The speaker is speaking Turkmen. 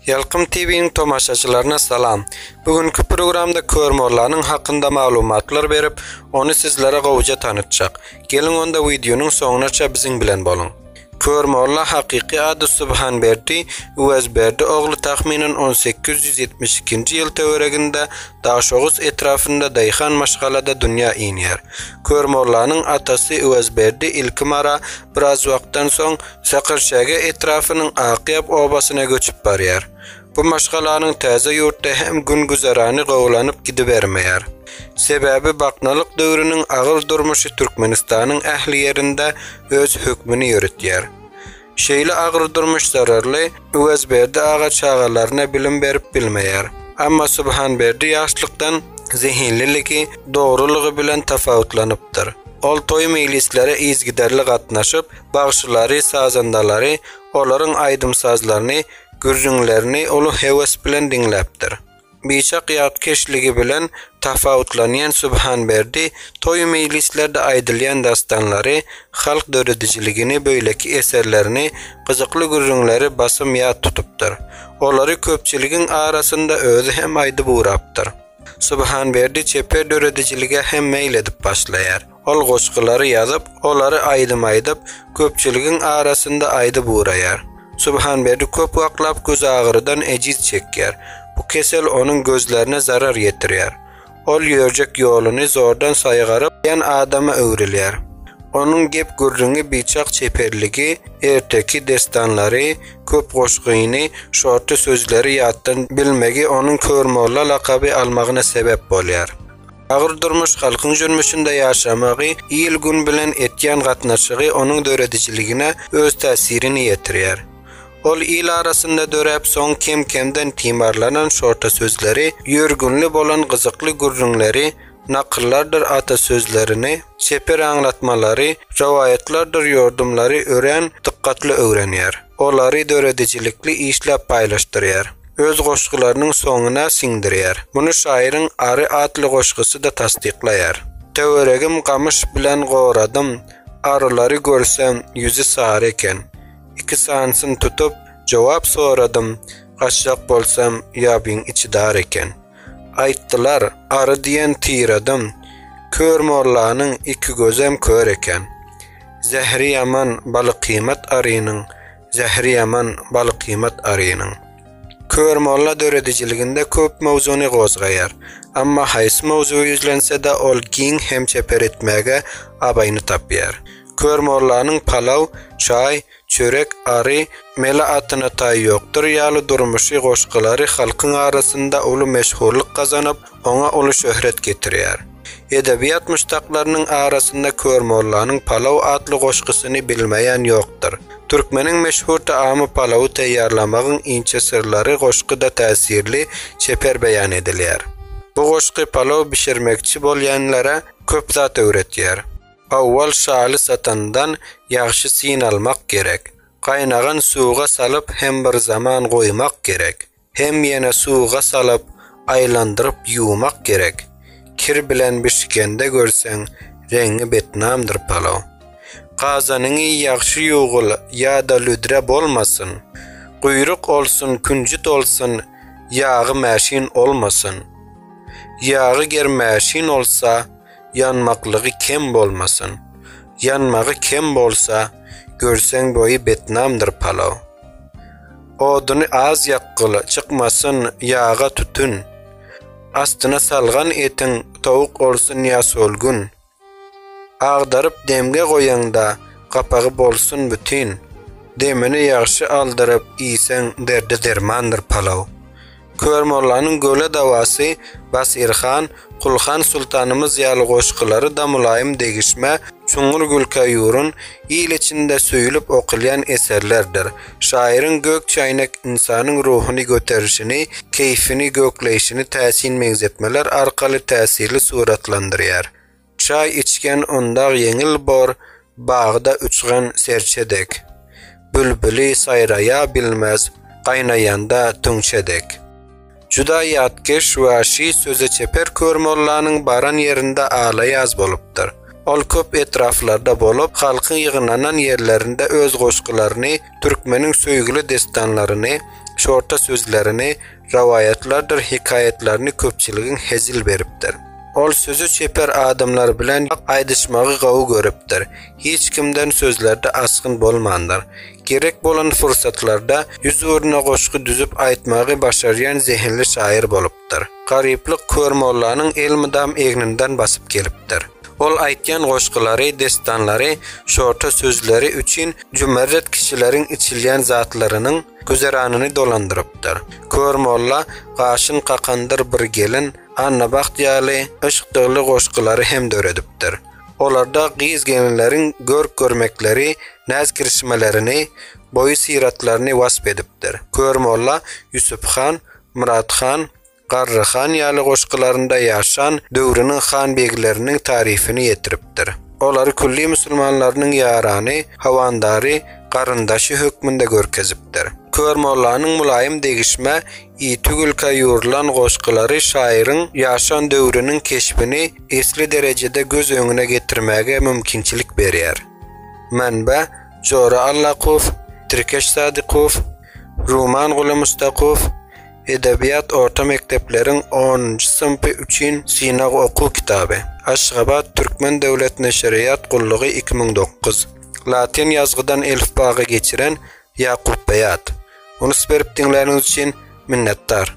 Ýalkym TV-niň tomaşaçylaryna salam. Bu günki programda Kör mollanyň hakynda maglumatlar berip, ony sizlere gowja tanytjak. Geliň onda wideonyň soňunaça biziň bilen boluň. Kör molla hakyky ady Subhanberdi Uwezberdi ogly tahminen 1872-nji ýyl töwereginde Daşoguz etrapynda daýhan maşgalada dünýä inýär. Kör mollanyň atasy Uwezberdi ilki Mara, biraz wagtdan soň Sakarçäge etrapynyň Akýap obasyna göçüp barýar. Bu maşgalanyň täze ýurtda hem gün-güzerany gowulanyp gidibermeýär. Sebäbi baknalyk döwrüniň agyr durmuşy Türkmenistanyň ähli ýerinde öz hökmüni ýöretýär. Şeýle agyr durmuş zararly Öwezberdi aga çagalaryna bilim berip bilmeýär. Emma Subhanberdi ýaşlykdan zehinliligi, dogrulygy bilen tapawutlanypdyr. Ol toý-meýlislere yzgiderli gatnaşyp, bagşylary, sazandalary olaryň aýdym-sazlaryny, gürrüňlerini uly höwes bilen diňläpdir. Biçak ýatkeşligi bilen tapawutlanýan Subhanberdi toý-meýlislerde aýdylýan dassanlary, halk döredijiligini, beýleki eserlerini, gyzykly gürrüňleri basym ýat tutupdyr. Olary köpçüligiň arasynda özi hem aýdyp ugrapdyr. Subhanberdi çeper döredijilige hem meýil edip başlaýar. Ol goşgulary ýazyp, olary aýdym aýdyp, köpçüligiň arasynda aýdyp ugraýar. Subhanberdi köp wagtlap gözagyrydan ejiz çekýär. Bu kesel onuň gözlerine zarar ýetirýär. Ol ýörjek ýoluny zordan saýgaryp, ýan adama öwrülýär. Onuň gep-gürrüňi biçak çeperligi, erteki dessanlary, köp goşgyny, şorty sözleri ýatdan bilmegi onuň Kör molla lakaby almagyna sebäp bolýar. Agyr durmuş halkyň jürmüşinde ýaşamagy, il-gün bilen etýän gatnaşygy onuň döredijiligine öz täsirini ýetirýär. Ol il arasynda döräp, soň kem-kemden timarlanan şorta sözleri, ýörgünli bolan gyzykly gürrüňleri, nakyllardyr ata sözlerini, çeper aňlatmalary, rowaýatlardyr ýordumlary örän dykgatly öwrenýär. olary döredijilikli işläp paýlaşdyrýar, öz goşgularynyň soňuna siňdirýär. Muny şaýyryň Ary atly goşgusy-da tassyklaýar. Töweregim gamyş bilen goradym, Arylary görsem, ýüzi sary eken. Iki sanysyn tutup, jogap soradym, Gaçjak bolsam, ýabyň içi dar eken. Aýtdylar, Ary diýen tyradyň, Kör mollanyň iki gözem kör eken. Zähri ýaman balykymat arynyň, Zähri ýaman balykymat arynyň. Kör molla döredijiliginde köp mowzuny gozgaýar. Amma haýsy mowzugy ýüzlense-de ol giň hem çeper etmäge abaýyny tapýar. Kör mollanyň palaw, çaý, Çörek ary, Mele atyna taý ýokdur ýaly durmuşy goşgulary halkyň arasynda uly meşhurlyk gazanyp, oňa uly şöhret getirýär. Edebiýat muşdaklarynyň arasynda Kör mollanyň palaw atly goşgusyny bilmeýän ýokdur. Türkmeniň meşhur taamy palawy taýýarlamagyň inçe syrlary goşguda täsirli, çeper beýan edilýär. Bu goşgy palaw bişirmekçi bolýanlara köp zat öwretýär. Owal şaly satandan ýagşy synalmak gerek. Gaýnagan suwga salyp hem bir zaman goýmak gerek. Hem ýene suwga salyp aýlandyryp ýuwmak gerek. Kir bilen bişikende görseň reňňi betnamdyr palaw. Gazanyňy ýagşy ýuwgyl ýada lüdre bolmasyn. Guýruk olsun künjüt olsun ýagy mäşin olmasyn. Ýagy ger mäşin olsa Ýanmaklygy kem bolmasyn. Ýanmagy kem bolsa, görseň boýy betnamdyr palaw. Oduny az ýakgyl, çykmasyn ýaga tütün. Astyna salgan etiň towuk olsun ýa solgun. Agdaryp demge goýaňda, gapagy bolsun bütin. Demini ýagşy aldyryp iýseň derdi dermandyr palaw. Kör mollanyň Göle dawasy, Batyr han, Kul han sultanymyz ýaly goşgulary da mylaýym degişmä, çuňňur gülkä ýurun, il içinde söýülip okulýan eserlerdir. Şaýyryň Gök çäýnek ynsanyň ruhuny göterişini, keýfini, gökleýşini täsin meňzetmeler arkaly täsirli suratlandyrýar. Çaý içgen undag ýeňil bor, bagda uçgan serçe dek. Bülbüli saýraýa bilmez, gaýnaýanda tüňçe dek. Juda ýatkeş we şi söze çeper Kör mollanyň baran ýerinde ala-ýaz bolupdyr. Ol köp etraflarda bolup, halkyň ýygnanan ýerlerinde öz goşgularyny, türkmeniň söýgüli dessanlaryny, şorta sözlerini, rowaýatlardyr hekaýatlaryny köpçüligiň hezil beripdir. Ol sözi çeper adamlar bilen ýok aýdyşmagy gowy görüpdir, hiç kimden sözlerde asgyn bolmandyr. Gerek bolan pursatlarda ýüz ugruna goşgy düzüp aýtmagy başarýan zehinli şaýyr bolupdyr. Garyplyk Kör mollanyň elmydam egninden basyp gelipdir. Ol aýtýan goşgulary, dessanlary, şorta sözleri üçin jümerret kişileriň içilýän zatlarynyň, Güzeranyny dolandyrypdyr. Kör molla, gaşyn kakandyr bir gelin, Annabagt ýaly yşk dygly goşgulary hem döredipdir. Olarda gyz-gelinleriň görk-görmekleri, näz-kirşmelerini, boýy-syratlaryny wasp edipdir. Kör molla Ýusuphan, Myrathan, Garry han ýaly goşgularynda ýaşan döwrüniň han-begleriniň taryfyny ýetiripdir. Olary külli musulmanlarynyň ýarany, howandary, garyndaşy hökmünde görkezipdir. Kör mollanyň mylaýym degişmä, ýiti gülkä ýugrulan goşgulary şaýyryň ýaşan döwrüniň keşbini esli derejede göz öňüne getirmäge mümkinçilik berýär. Manba, Jora Allakow, Tirkeş Sadykow, Ruman Guly Mustakow, Edebiýat orta mekdepleriň onunjy synpy üçin synag okuw kitaby. Aşgabat, Türkmen döwlet neşirýat gullugy iki müň dokuz. Latyn ýazgydan elifbaga geçiren Ýakupbeýat. Unus berip diňläniňiz üçin minnetdar.